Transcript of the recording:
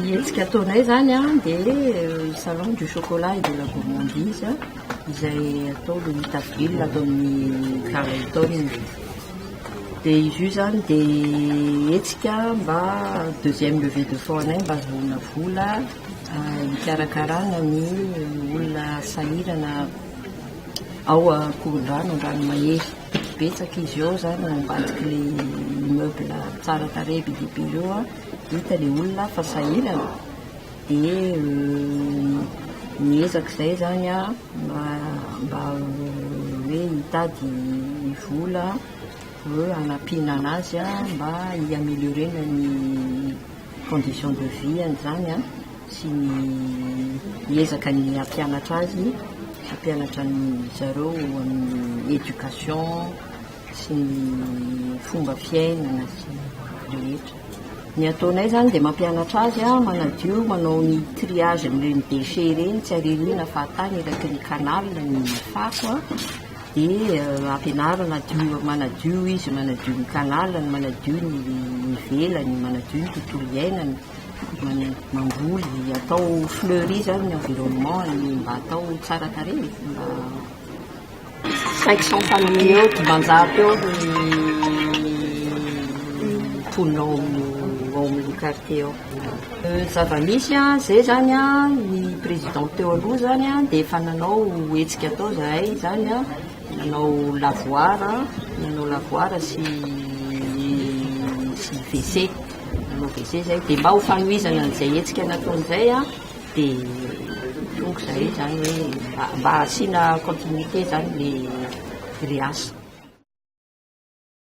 Ny hetsika ataonay izany dia ny salon du chocolat et de la gourmandise izay atao le huit avril ato amin'ny Carlton. Dia izy io izany dia hetsika mba deuxième levée de fonds anay mba ahazoana vola hikarakarana ny olona sahirana ao Ankorondrano Andranomahery. Betsaka izy eo zany ao ambadiky le immeuble tsara tarehy be dia be eo an, hita le olona fa sahirana dia miezaka izay zany an mba mba hoe hitady vola hanampiana anazy an mba hi-ameliorer-na ny condition de vie any zany an, sy ny hiezaka ny hampianatra azy, hampianatra ny zareo amin'ny education sy ny fomba fiainana sy ny rehetra. Ny ataonay zany dia mampianatra azy an, manadio, manao ny triage an'ireny déchets ireny, tsy aririana fa atany eraky ny canal ny fako an, Dia ampianarina hadio, manadio izy, manadio ny tanànany, manadio ny ivelany, manadio ny tontolo iainany, man- mamboly, atao fleurie izany ny environnement-ny mba atao tsara tarehy, mba cinq cent famille eo, dimanjato eo ny mponina ao amin'ny ao amin'ny quartier ao. Zava-misy an, izay zany an, ny président teo aloha zany an, dia efa nanao hetsika tao izahay izany an, nanao lavoir an, nanao lavoir sy sy WC, nanao WC izay, dia mba ho fanohizana an'izay hetsika nataony izay an, dia tonga izahay izany hoe mba mba asiana continuité izany ilay grille asa.